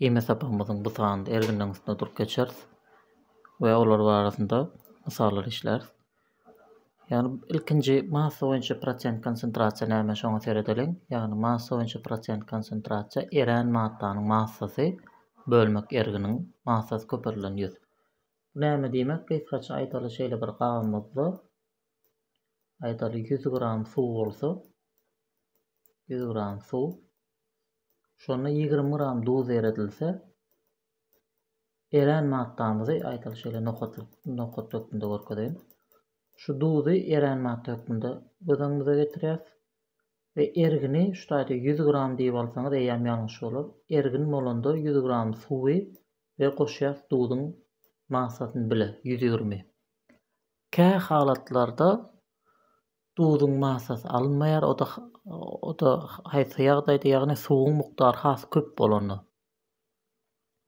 Ýeme sapagymyzyň bu sanynda erginleň üstünde durup geçeris we olar barasynda mysallar işläris. Ýagny ilkinji massa boýunça prosent konsentrasiýa näme şoňa seredeliň. Ýagny massa boýunça prosent konsentrasiýa erän maddanyň massasy bölmek erginiň massasy köperilen ýüz. Bu näme diýmek gysgaça aýdaly şeýle bir gabymyzda aýdaly ýüz gram suw bolsa ýüz gram suw Şonda ýigrimi gram duz eredilse, erän maddamyzy, aýdaly şeýle nokatlyk, nokat hökmünde görkezeýin. Şu duzy erän madda hökmünde göz öňümize getirýäs we ergini şu taýda 100 gram diýip alsaňyz eýýäm ýalňyş bolar. Ergin bolanda 100 gram suwy we goşýas duzuň massasyny bile 120. Kä halatlarda Duzuň massasy alynmaýar, o-da haýsy ýagdaýda, ýagny suwuň mukdary has köp bolanda.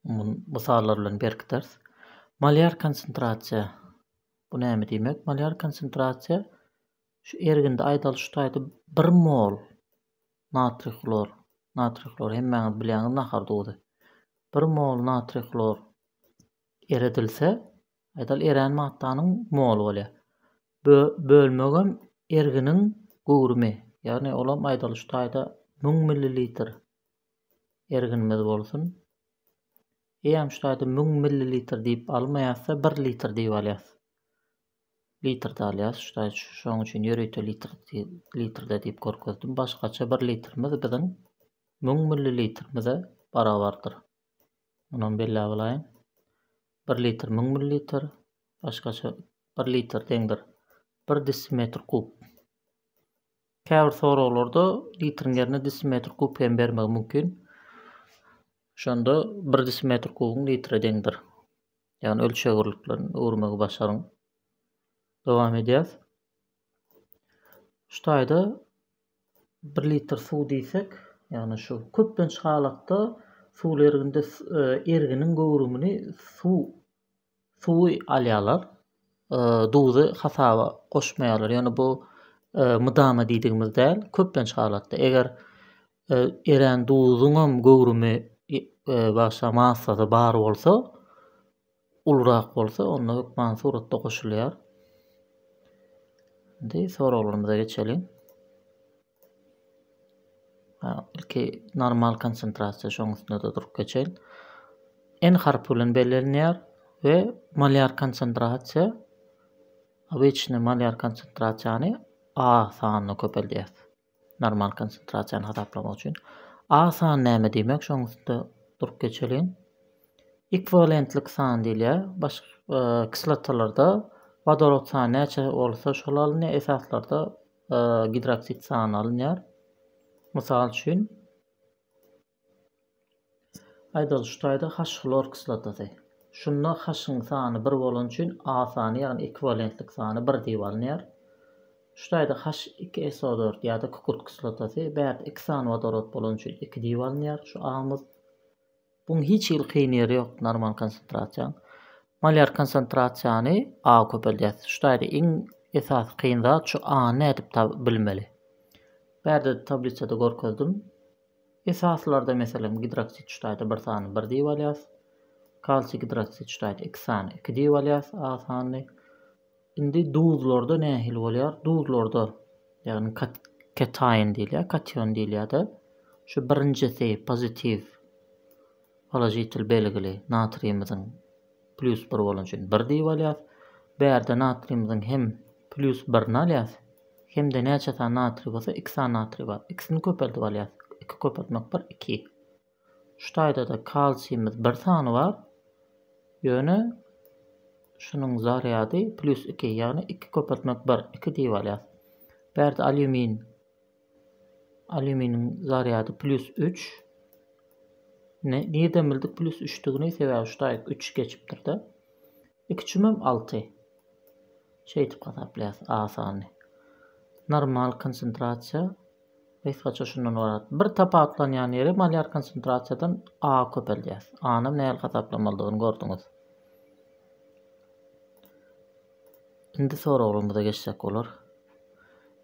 Muny mysallar bilen berkideris. Malýar konsentrasiýa. Bu näme diýmek? Malýar konsentrasiýa şu erginde aýdalyş şutaýda bir mol natriý hlor, natriý hlor hemmäňiz bilýäňiz nahar duzy. Bir mol natriý hlor eredilse, Edil erän maddanyň moly bolýar. Bölmegem erginiň göwrümi, ýagny olam aýdalyş taýda müň millilitr erginimiz bolsun. Eýýäm şu taýda müň millilitr diýip almaýasda bir litr diýip alýas. Litrde alýas şu taýda şoň üçin ýörite litr litrde diýip görkezdim. Başgaça bir litrimiz biziň müň millilitrimize barabardyr. Munam belläp alaýyn. Bir litr müň millilitr, başgaça bir litr deňdir bir desimetr kub. Käbir soraglarda litriň ýerine desimetr kub hem bermegi mümkin. Şonda bir desimetr kubyň litre deňdir. Ýagny ölçeg birliklerini öwürmegi başaryň. Dowam edýäs. Şu taýda 1 litr suw diýsek, ýagny şu köplenç halatda suwly erginde erginiň göwrümini suw suwy alýarlar. Duzy hasaba goşmaýarlar. Ýöne bu mydama diýdigimiz däl. Köplenç halatda eger erän duzuňam göwrümi başga massada bar bolsa, Ulurak bolsa onda hökman suratda goşulýar. Indi soraglarymyza geçeliň. Ha, ilki normal konsentrasiýa şoň üstünde-de durup geçeýin. N harpy bilen bellenilýär we molýar konsentrasiýa obyçny molýar konsentrasiýany A sanyna köpeldýäs. Normal konsentrasiýany hasaplamak üçin A san näme diýmek şoň üstünde durup geçeliň. Ekwiwalentlik san diýilýär. Baş e, kislotalarda wodorod sany näçe bolsa şol alynýar, esaslarda e, gidroksid sany alynýar. Mysal üçin Aýdaly şu taýda haş hlor kislotasy. Şunda haşyň sany bir bolany üçin A sany ýagny ekwiwalentlik sany bir diýip alynýar. Şu taýda haş iki SO dört ýa-da kükürt kislotasy bärde iki sany wodorod bolany üçin iki diýip alynýar şu Amyz. Buň hiç hili kyn ýeri ýok normal konsentrasiýaň. Molýar konsentrasiýany A köpeldýäs. Şu taýda iň esasy kyn zat şu A-ny nädip bilmeli. Bärde tablisada görkezdim. Esaslarda meselem gidroksid çitaýda bir sany bir diýip alýas, kalsiý gidroksid çitaýda iki sany iki diýip alýas A sanyny. Indi duzlarda nähili bolýar? Duzlarda ýagny kataýn diýilýär, kation diýilýär-de. Şu birinjisi pozitiw položitel belgili natriýimiziň Plýus bir bolany üçin bir diýip alýas. Bärde natriýymyzyň hem plýus birini alýas. Hem-de näçe sany natriý bolsa iki sany natriý bar. Ikisini köpeldip alýas. Iki köpeltmek bir iki. Şu taýda-da kalsiýmyz bir sany bar. Ýöne şunuň zarýady plýus iki, ýagny iki köpeltmek bir, iki diýip alýas. Bärde alýumin Alýuminiň zarýady plýus üç. Nirden bildik plýus üçdigini? Sebäbi şu taýyk üç geçipdir-de. Iki çümem alty. Şeýdip hasaplaýas asany. Normal konsentrasiýa gysgaça şundan ybarat. Bir tapawutlanýan ýeri molýar konsentrasiýadan A köpeldýäs. A-nam nähili hasaplamalydygyny gördüňiz. Indi soraglarymyza geçsek bolar.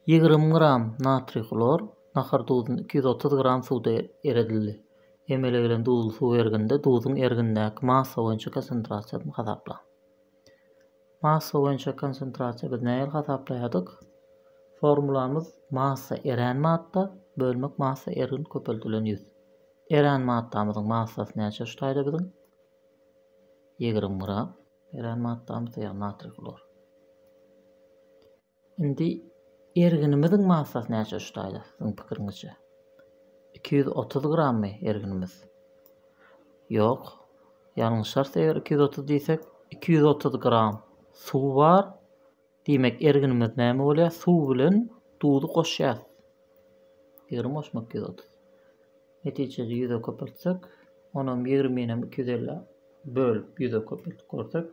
Ýigrimi gram natriý hlor nahar duzuny iki ýüz otuz gram suwda eredildi. Emele gelen duzly suw erginde duzuň ergindäki massa boýunça konsentrasiýasyny hasaplaň. Massa boýunça konsentrasiýa biz nähili hasaplaýardyk? Formulamyz massa erän madda bölmek massa ergin köpeldilen ýüz. Erän maddamyzyň massasy näçe şu taýda biziň? Ýigrimi gram. Erän maddamy syýan natriý hlor. Indi erginimiziň massasy näçe şu taýda siziň pikiriňizçe? Iki ýüz otuz grammy erginimiz? Ýok. Ýalňyşarys eger iki ýüz otuz diýsek, iki ýüz otuz gram suw bar. Diýmek erginimiz näme bolýar? Suw bilen duzy goşýarys. Ýigrimi goşmak ýüz otuz. Netijede ýüze köpeltsek, onam ýigriminem iki ýüz elli bölüp ýüze köpeltip görsek,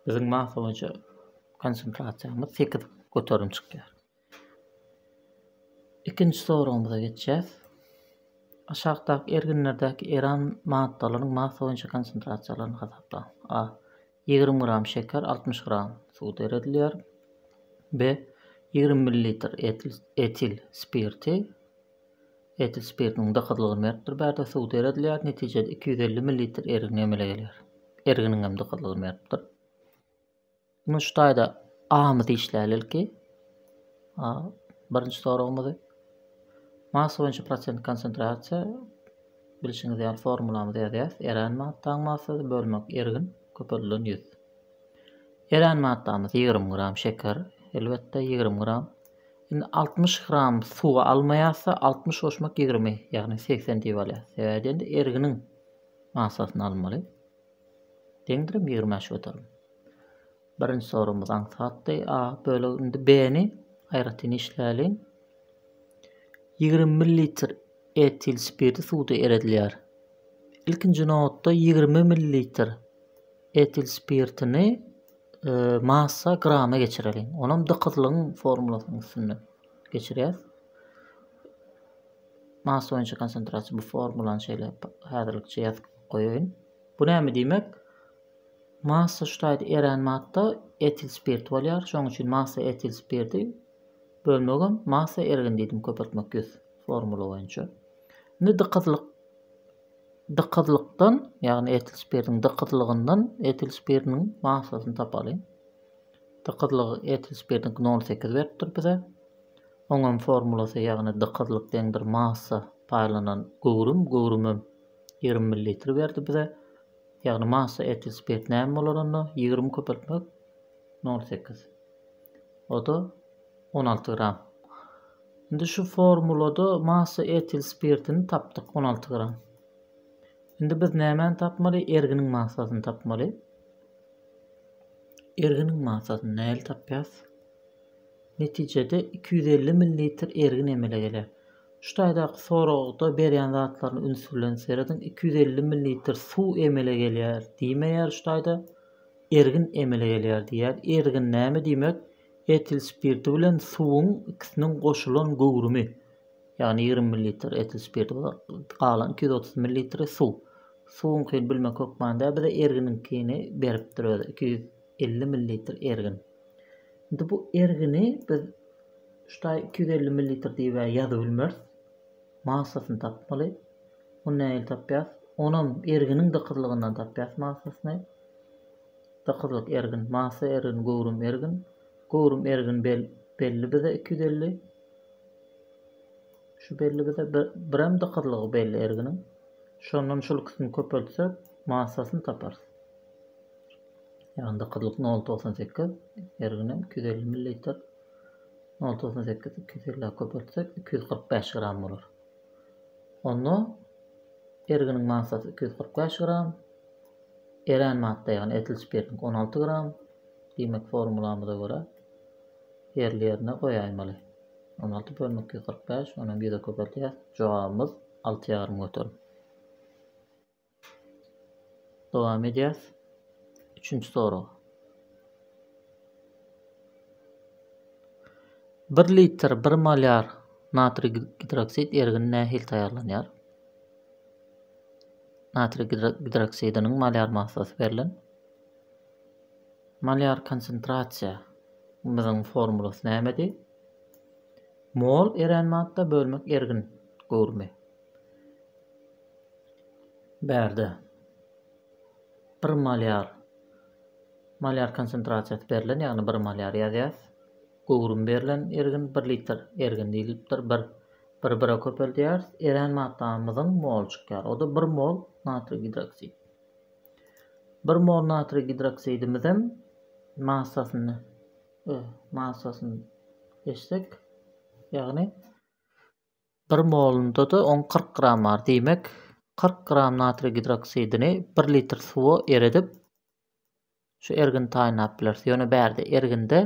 biziň massa boýunça konsentrasiýamyz sekiz göterim çykýar. Ikinji soragymyza geçýäs. Aşakdaky erginlerdäki eran maddalaryň massa boýunça konsentrasiýalaryny hasaplaň. A. Ýigrimi gram şeker, altmyş gram suw seredilýär we ýigrimi millilitr etil spirti, etil spirtiniň dykyzlygyny beripdir bärde, suw seredilýär, netijede iki ýüz elli millilitr ergin emele gelýär. Erginiň hem dykyzlygyny beripdir. Indi şu taýda A-myzy işläli ilki. A, birinji soragymyzy. Massa boýunça prosent konsentrasiýa Bilşiňiz ýaly, formulamyzy ýazýarys, Erän maddaň massasy bölmek ergin köpeldilen ýüz. Erän maddamyz ýigrimi gram şeker, elbetde, ýigrimi gram. Indi altmyş gram suwy almaýarsa, altmyş goşmak ýigrimi, ýagny segsen diýip alýarys. Sebäbi diýende erginiň massasyny almaly. Deňdirem ýigrimi bäş göterim. Birinji soragymyz aňsatdy. A bölegi indi B-ni aýratyn işläliň. Ýigrimi millilitr etil spirti suwda eredilýär. Ilkinji nobatda ýigrimi millilitr etil spirtini e, massa grama geçireliň. Onam dykyzlygyň formulasynyň üstünde geçirýäs. Massa boýunça konsentrasiýa bu formulany şeýle häzirlikçe ýazyp goýaýyn. Bu näme diýmek? Massa ştaýt erän madda etil spirt bolýar, şonuň üçin massa etil spirti bölmegem massa ergin diýdim köpeltmek ýüz formula boýunça. Indi dykyzlyk dykyzlykdan, ýagny etil spirtiň dykyzlygyndan etil spirtiniň massasyny tapalyň. Dykyzlygy etil spirtiniň 0,8 beripdir bize. Oňam formulasy ýagny dykyzlyk deňdir massa paýlanan göwrüm, göwrümem 20 ml berdi bize. Ýagny massa etil spirt näme bolar onda ýigrimi köpeltmek nol sekiz oda on alty gram indi şu formulada massa etil spirtini tapdyk on alty gram indi biz nämäni tapmaly erginiň massasyny tapmaly erginiň massasyny näli tapýas netijede iki ýüz elli millilitr ergin emele geler Şu taýdaky soragda berýän zatlaryna üns bilen serediň, iki ýüz elli millilitr suw emele gelýär diýmeýär şu taýda, ergin emele gelýär diýýär. Ergin näme diýmek? Etil spirti bilen suwuň ikisiniň goşulan göwrümi. Ýagny ýigrimi millilitr etil spirti bolar, galan iki ýüz otuz millilitri suw. Suwuňkyny bilmek hökmanda bize erginiňkini beripdir özi, iki ýüz elli millilitr ergin. Indi bu ergini biz şu taý iki ýüz elli millilitr diýibä ýazybilmeris. Massasyny tapmaly. Ony nähili tapýas? Onam erginiň dykyzlygyndan tapýas massasyny. Dykyzlyk ergin, massa ergin, göwrüm ergin. Göwrüm ergin bel, belli bize iki ýüz elli. Şu belli bize bir, birem dykyzlygy belli erginiň. Şondan şul ikisini köpeltsek, massasyny taparys. Ýanynda gyzlyk nol togsan sekiz, her günem iki ýüz elli millilitr. Nol togsan sekiz iki ýüz elli köpeltsek, iki ýüz kyrk bäş gram bolar. Onda erginiň massasy iki ýüz kyrk bäş gram, erän madda, ýagny etil spirtniňki on alty gram. Diýmek, formulamyza görä ýerli-ýerine goýaýmaly. On alty bölünik iki ýüz kyrk bäş, onuň ýüze köpeltýäs. Jogabymyz alty ýarym göterim. Dowam edýäs. Üçünji sorag. Bir litr bir molýar natriý gidroksid ergini nähili taýýarlanýar? Natriý gidroksidiniň molýar massasy berlen. Molýar konsentrasiýa biziň formulasy nämedi? Mol erän madda bölmek ergin göwrümi. Bärde bir malýar malýar konsentrasiýasy berlen, ýagny bir malýar ýazýas. Göwrüm berlen ergin bir litr ergin diýilipdir. Bir bir bire köpeldýäris. Erän maddamyzyň mol çykýar. O-da bir mol natriý gidroksid. Bir mol natriý gidroksidimizem massasyny massasyny eşsek, ýagny Bir molunda-da oň kyrk gram bar. Diýmek, kyrk gram natriý gidroksidini bir litr suwa eredip, şu ergini taýynlap bileris. Ýöne bärde erginde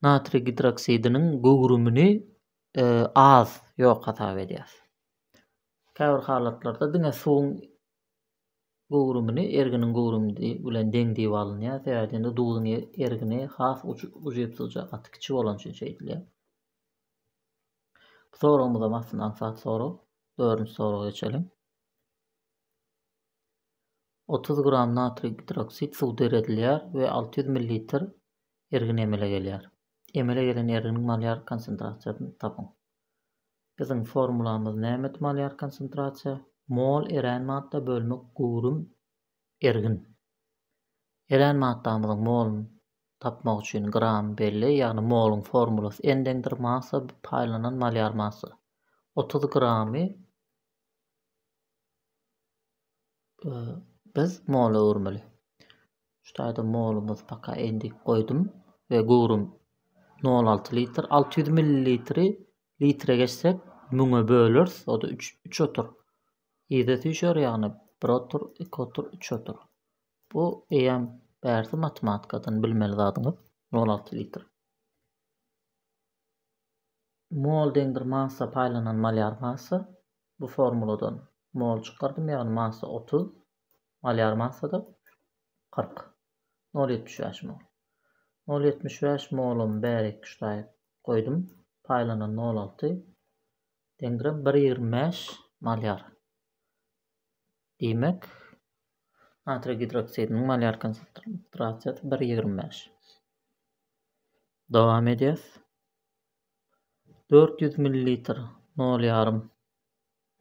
natriý gidroksidiniň göwrümini e, az, ýok hasap edýäris. Käbir halatlarda diňe suwuň göwrümini erginiň göwrümi bilen deň diýip alynýar. Sebäbi duzuň e, ergini has ujypsyzja, gaty kiçi bolan üçin şeýdilýär. Bu soragymyzam aslynda aňsat sorag. Dördünji soraga geçelim. 30 gram natriý gidroksid suw deredilýär we 600 ml ergin emele gelýär. Emele gelen erginiň malýar konsentrasiýasyny tapyň. Biziň formulamyz nämedi malýar konsentrasiýa? Mol erän madda bölmek göwrüm Ergin. Erän maddamyzyň moluny tapmak üçin gram belli, ýagny moluň formulasy n-deňdir massa bir paýlanan malýar massa. Otuz gramy biz mola öwürmeli. Şu taýda molumyz paka n diýip goýdum we göwrüm nol alty litr. Alty ýüz millilitri litre geçsek, müňe böleris, o-da üç, üç otur. Yza süýşer ýagny bir otur, iki otur, üç otur. Bu eýýäm bärsi matematikadan bilmeli zadyňyz nol alty litr. Mol deňdir massa paýlanan malýar massa. Bu formuladan mol çykardym ýagny massa otuz, malýar massada kyrk. Nol ýetmiş bäş mol. Nol ýetmiş bäş molumy bärik ştaýa goýdum. Paýlanan nol alty. Deňiräp bir ýigrimi bäş malýar. Diýmek, natriý gidroksidiniň malýar konsentrasiýasy bir ýigrimi bäş. Dowam edýäs. Dört ýüz millilitr nol ýarym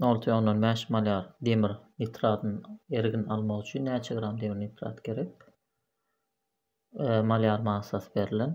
nol tüýe ondan bäş malýar demir nitratyny ergin almak üçin näçe gram demir nitrat gerek? E, malýar massasy berlen.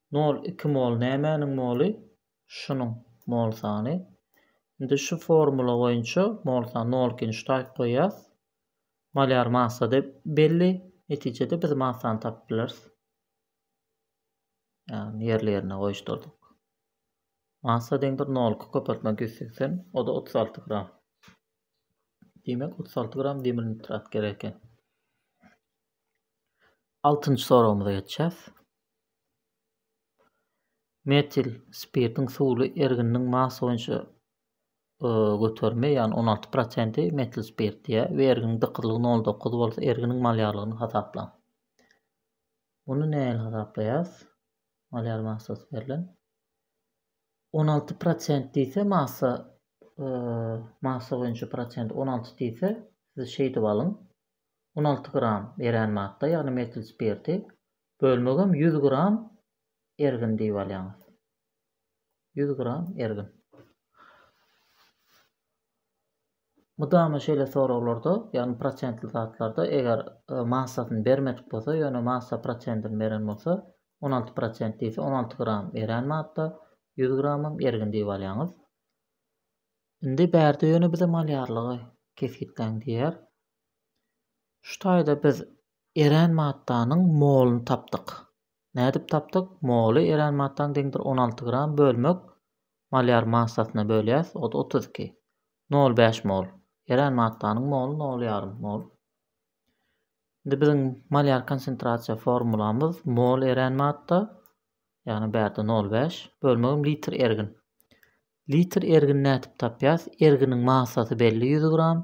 Nol iki mol nämäniň moly? Şunuň mol sany. Indi şu formula boýunça mol sany nol ikini şu taýyp goýýas. Malýar massa-da belli. Netijede biz massany tapyp bileris. Ýagny ýerli-ýerine goýuşdyrdyk. Massa deňdir nol iki köpeltme ýüz segsen, o-da otuz alty gram. Diýmek, otuz alty gram demir nitrat gerek eken. Altynjy soragymyza geçýäs. Metil spirtiň suwly ergininiň massa boýunça göterimi, ýagny on alty prosenti metil spirt diýýär we erginiň dykyzlygy nol dokuz bolsa erginiň malýarlygyny hasaplaň. Muny nähili hasaplaýas? Malýar massasy berlen. On alty prosent diýse massa massa boýunça prosent on alty diýse siz şeýdip alyň. on alty gram, erän madda, ýagny metil spirti, bölmegem ýüz gram ergin diýip alýaňyz. Ýüz gram ergin. Mydama şeýle soraglarda, ýagny prosentli zatlarda eger e, massasyny bermedik bolsa, ýöne massa prosentini beren bolsa, on alty prosent diýse, on alty gram erän madda, ýüz gramam ergin diýip alýaňyz. Indi bärde ýöne bize malýarlygy kesgitläň diýýär. Şu taýda biz erän maddanyň moluny tapdyk. Nädip tapdyk? Moly erän maddanyň deňdir on alty gram bölmek malýar massasyna bölýäs, o-da otuz iki. Nol bäş mol. Erän maddanyň moly nol ýarym mol. Indi biziň malýar konsentrasiýa formulamyz mol erän madda, ýagny bärde nol bäş, bölmegim litr ergin. Litr ergini nädip tapýas? Erginiň massasy belli ýüz gram.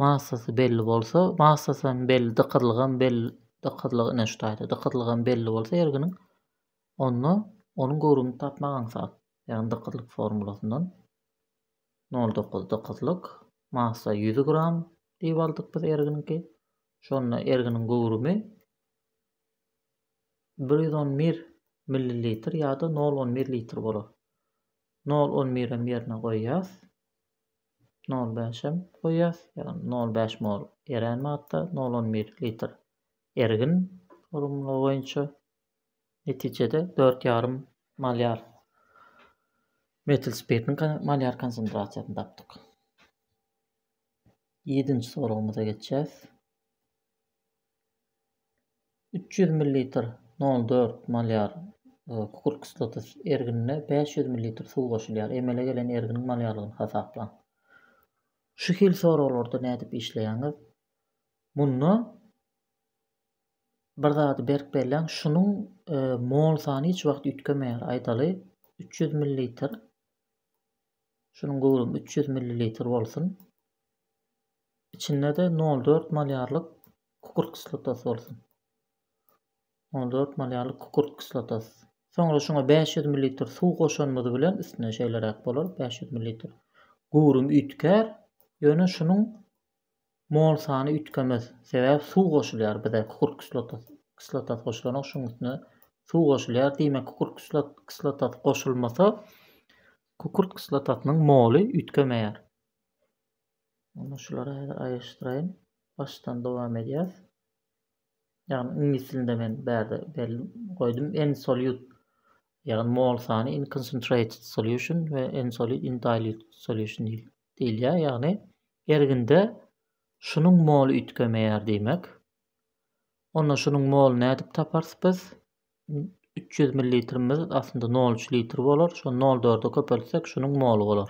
Massasy belli bolsa, massasy hem belli, dykyzlygy hem belli, dykyzlygy ine şu taýda, dykyzlygy hem belli bolsa erginiň, onda onuň göwrümini tapmak aňsat. Ýagny dykyzlyk formulasyndan nol dokuz dykyzlyk, massa ýüz gram diýip aldyk biz erginiňki. Şonda erginiň göwrümi bir ýüz on bir millilitr ýa-da nol on bir litr bolar. Nol on birem ýerine goýýas. Nol bäşem goýýas. Ýagny nol bäş mol erän madda, nol on bir litr ergin formula boýunça netijede dört ýarym malýar metil spirtiň malýar konsentrasiýasyny tapdyk. Ýedinji soragymyza geçýäs. üç ýüz millilitr, nol dört malýar, kükürt kislotysy erginine bäş ýüz millilitr suw goşulýar. Emele gelen erginiň malýarlygyny hasaplaň. Şu hil soraglarda nädip işleýäňiz? Munda bir zady berk belläň, şunuň e, mol sany hiç wagt üýtgemeýär. Aýdaly, üç ýüz millilitr, şunuň göwrümi üç ýüz millilitr bolsun. Içinde-de nol dört malýarlyk kükürt kislotasy bolsun. Nol dört malýarlyk kükürt kislotasy. Soňra şuňa bäş ýüz millilitr suw goşanymyz bilen üstüne şeýleräk bolar, bäş ýüz millilitr. Göwrüm üýtgär, ýöne şunuň mol sany üýtgemez. Sebäbi suw goşulýar bize, kükürt kislotasy kislotasy goşulanok, şuň üstüne suw goşulýar. Diýmek, kükürt kislotasy goşulmasa, kükürt kislotasynyň moly üýtgemeýär. Onda şulary häzir aýyryşdyraýyn. Başdan dowam edýäs. Ýagny iňlis dilinde men bärde berdim, goýdum en solute ýagny mol sany in concentrated solution we en solute in dilute solution diýilýär. Ýagny erginde şunuň moly üýtgemeýär diýmek. Onda şunuň moly nädip taparys biz? 300 ml aslynda 0,3 litr bolar. Şo 0,4-e köpeltsek şunuň moly bolar.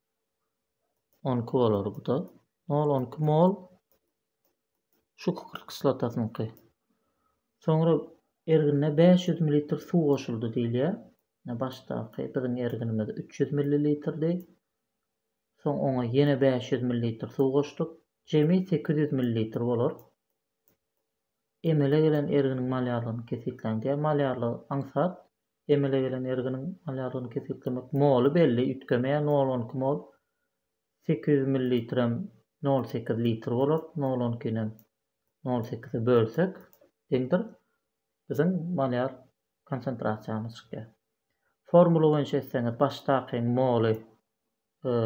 On iki bolar bu-da. Nol on iki mol şu kükürt kislotasynyňky. Soňra ergine 500 ml suw goşuldy diýilýär. Ýa başdaky biziň erginimiz 300 ml-di. Soň oňa ýene 500 ml suw goşduk. Jemi 800 ml bolar. Emele gelen erginiň malýarlygyny kesgitläň diýýär. Malýarlygy aňsat Emele gelen erginiň alýardygyny kesgitlemek moly belli, üýtgemeýär, nol on iki mol, sekiz ýüz millilitrem nol sekiz litr bolar, nol on ikinem nol sekize bölsek deňdir, biziň malýar konsentrasiýamyz çykýar. Formula boýunça etseňiz, başdakyň moly, e,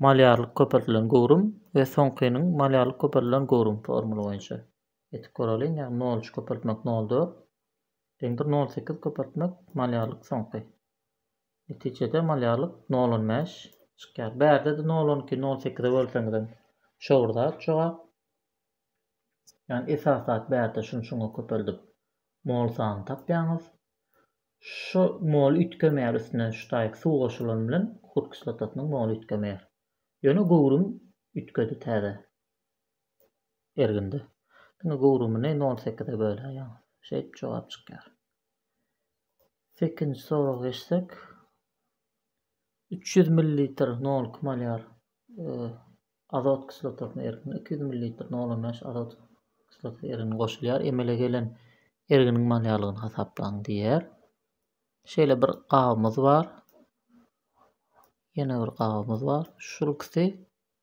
malýarlyk köpeldilen göwrüm we soňkynyň malýarlyk köpeldilen göwrüm formula boýunça etip göreliň, ýagny nol üç köpeltmek nol dört, Deňdir nol sekiz köpeltmek malýarlyk soňky. Netijede malýarlyk nol on bäş çykýar. Bärde-de nol on iki nol sekize bölseňizem şo bir zat jogap. Ýagny esas zat bärde şuny şuňa köpeldip mol sanyny tapýaňyz. Şu mol üýtgemeýär üstüne şutaýyk suw goşulany bilen kukurt kislotasynyň moly üýtgemeýär. Ýöne göwrüm üýtgedi täze. ergindi. Diňe göwrümini nol sekize böläýýäň. Şeýdip jogap çykýar. Sekinji soraga geçsek. Üç ýüz millilitr nol kim alýar? Azot kislotasyna ergindi. Iki ýüz millilitr nol on bäş azot kislotasy ergini goşulýar. Emele gelen erginiň malýarlygyny hasaplaň diýýär. Şeýle bir gabymyz bar. Ýene bir gabymyz bar. Şul ikisi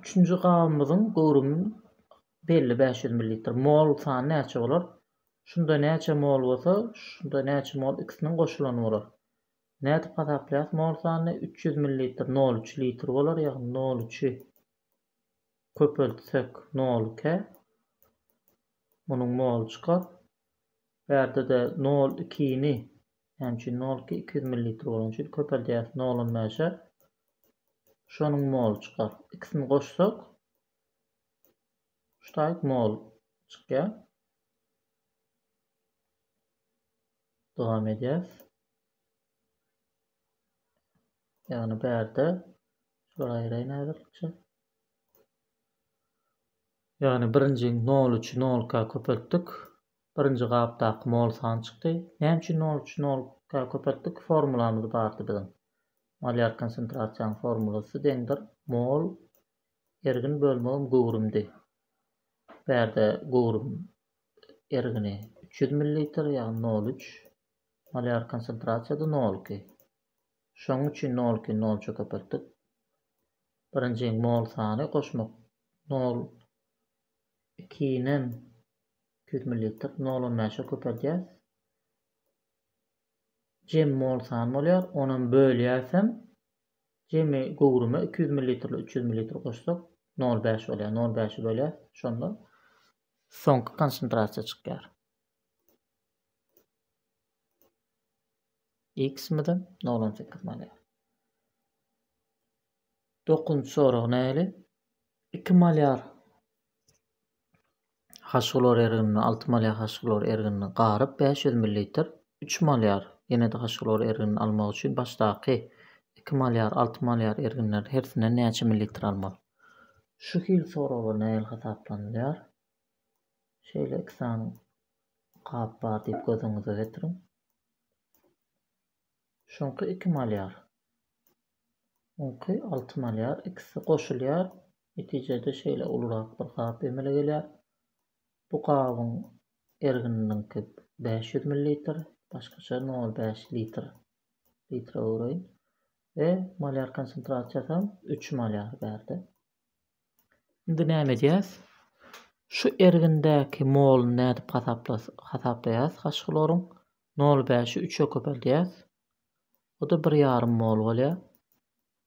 Üçünji gabymyzyň göwrümi belli bäş ýüz millilitr. Mol sany näçe bolar? Şunda näçe mol bolsa, şunda näçe mol ikisiniň goşulany bolar. Nädip hasaplaýas mol sanyny? Üç ýüz millilitr nol üç litr bolar, ýagny nol üçi köpeltsek nol ikä munuň moly çykar. Bärde-de nol ikini Şonuň üçin nol iki ýüz millilitr bolany üçin köpeldýäris nol on bäşe. Şonuň moly çykar. Ikisini goşsak şu taýyk mol çykýar. Dowam edýäris. Ýagny bärde şular aýraýyn aýratykça. Ýagny birinji nol üçi nolka köpeltdik. Birinji gapdaky mol san çykdy. Näme üçin nol üçi nolka köpeltdik? Formulamyz bardy biziň. Molýar konsentrasiýanyň formulasy deňdir mol ergin bölmegim göwrümdi. Bärde göwrüm ergini üç ýüz millilitr, ýagny nol üç. Molýar konsentrasiýada nol iki. Şonuň üçin nol ikini nol üçe köpeltdik. Birinjiň mol sany goşmak nol ikinem Ýüz millilitr nol on bäşe köpeldýäs. Jem mol sany bolýar. Onam bölýäsem jemi göwrüme iki ýüz millilitrle üç ýüz millilitr goşsak nol bäş bolýar. Nol bäşi bölýäs. Şonda soňky konsentrasiýa çykýar. X mide nol on sekiz bolýar. Dokuzynjy sorag näli? Iki molýar Haşgylor erginini, alty malýar haşgylor erginini garyp, bäş ýüz millilitr, üç malýar ýene-de haşgylor erginini almak üçin başdaky iki malýar, alty malýar erginleriň hersinden näçe millilitr almaly? Şu hil soraglar nähili hasaplanylýar? Şeýle iki sany gap bar diýip göz öňüňize getiriň. Şuňky iki malýar. Oňky alty malýar. Ikisi goşulýar. Netijede şeýle ulurak bir gap emele gelýär. Bu gabyň ergininiňki bäş ýüz millilitr, başgaça nol bäş litr, litre öwreýin, we molýar konsentrasiýasam üç molýar bärde. Indi näme edýäs? Şu ergindäki moluny nädip hasaplaýas haş hloryň? Nol bäşi üçe köpeldýäs. O-da bir ýarym mol bolýar.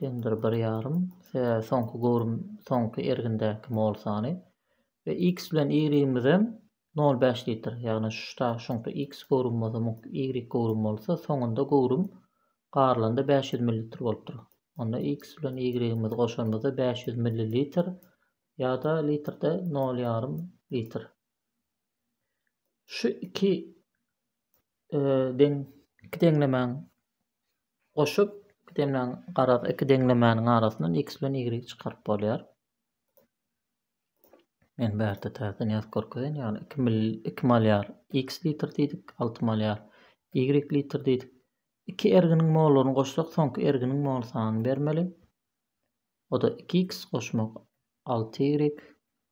Tender bir ýarym, sebäbi soňky göwrüm soňky ergindäki mol sany we X bilen Y-imizem nol bäş litr, ýagny şda şuňky X göwrüm bolsa muňky Y göwrüm bolsa soňunda göwrüm garylanda bäş ýüz millilitr bolupdyr. Onda X bilen Y-imizi goşanymyzda bäş ýüz millilitr ýa-da litrde nol ýarym litr. Şu iki deň iki deňlemäň goşup iki demläň garaz iki deňlemäniň arasyndan x bilen y çykaryp bolýar. Men bärde täzeden ýazyp görkezen ýaly 2 mil 2 malýar x litr diýdik, 6 malýar y litr diýdik. Iki erginiň mollaryny goşsak, soňky erginiň mol sanyny bermeli. O da 2x goşmak 6y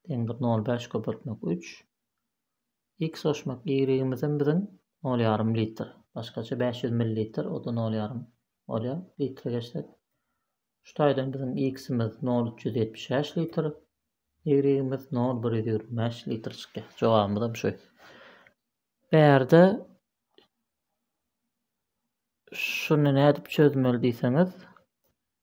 deňdir 0,5 köpeltmek 3. X goşmak Y-imizem biziň nol ýarym litr. Başgaça bäş ýüz millilitr, o-da nol ýarym bolýar. Litre geçsek. Şu taýdan biziň X-imiz nol üç ýüz ýetmiş bäş litr. Y-imiz nol bir ýüz ýigrimi bäş litr çykýar. Jogabymyzam şu. Bärde şuny nädip çözmeli diýseňiz,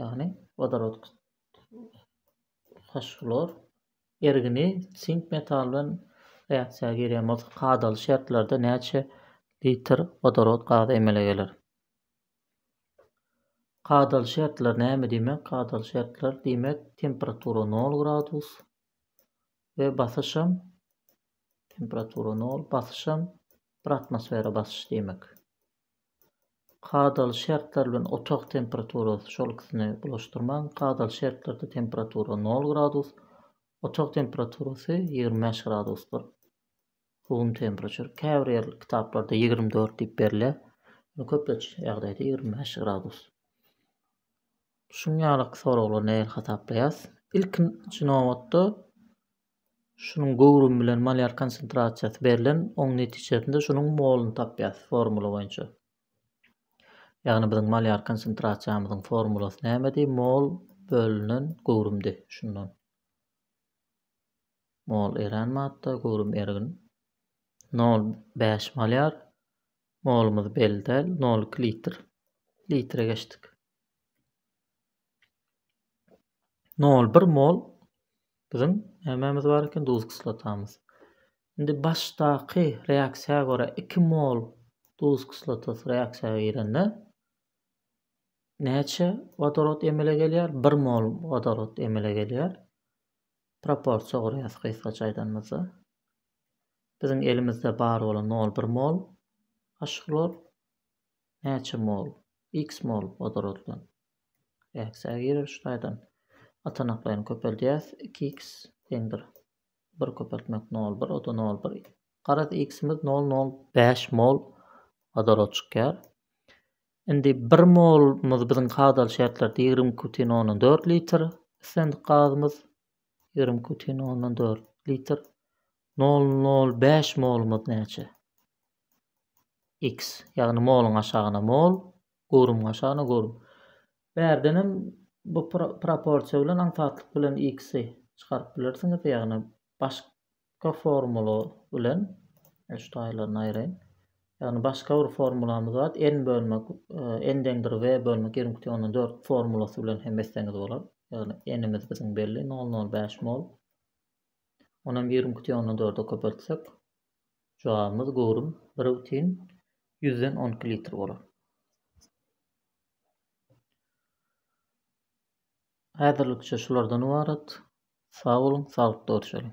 ýagny wodorod fosfor ergini sink metaly bilen reaksiýa girýän bolsa kadaly şertlerde näçe litr wodorod gazy emele geler? Kadaly şertler näme diýmek? Kadaly şertler diýmek temperatura 0 gradus we basyşam temperatura 0 basyşam bir atmosfera basyş diýmek. Kadaly şertler bilen otag temperaturasy şol ikisini bulaşdyrmaň. Kadaly şertlerde temperatura nol gradus, otag temperaturasy ýigrimi bäş gradusdyr. Room temperature. Käbir ýer kitaplarda ýigrimi dört diýip berilýär. Ýöne köplenç ýagdaýda ýigrimi bäş gradus. Şuň ýaly soraglary nähili hasaplaýas? Ilkinji nobatda Şunuň göwrümi bilen malýar konsentrasiýasy berlen, oň netijesinde şunuň moluny tapýas formula boýunça. Ýagny biziň malýar konsentrasiýamyzyň formulasy nämedi? Mol bölünen göwrümdi. Şundan. Mol erän madda, göwrüm ergin. 0,5 malýar. Molumyz belli däl. 0,2 litr. Litre geçdik. nol bir mol biziň nämemiz bar eken duz kislotamyz indi başdaky reaksiýa görä iki mol duz kislotasy reaksiýa girende näçe wodorod emele gelýär bir mol wodorod emele gelýär proporsiýa gurýas gysgaça aýdanymyzda biziň elimizde bar bolan nol bir mol aşgulor näçe mol x mol wodoroddan Eksi ýer üç taýdan atanaklaýyny köpeldýäs. Iki x deňdir. Bir köpeltmek nol bir, o-da nol bir. Garaz, x-imiz nol nol bäş mol wodorod çykýar. Indi bir molumyz biziň kadaly şertlerde ýigrimi iki bütin ondan dört litr, islendik gazymyz ýigrimi iki bütin ondan dört litr. Nol nol bäş molumyz näçe? X, ýagny moluň aşagyna mol, Görüm gaşana görüm. Bärdenem bu proporsiýa bilen aňsatlyk bilen x-i çykaryp bilersiňiz, ýagny başga formula bilen, men şu taýlaryny aýraýyn, ýagny başga bir formulamyz bar, n bölmek n deňdir w bölmek ýigrimi iki togsan dört formulasy bilen hem etseňiz bolar, ýagny n-imiz biziň belli, nol nol bäş mol, ony hem ýigrimi iki togsan dörde köpeltsek, Jogabymyz göwrüm bir bütin ýüzden on iki litr bolar. Häzirlikçe şulardan ybarat. Sag boluň, saglykda görşeliň!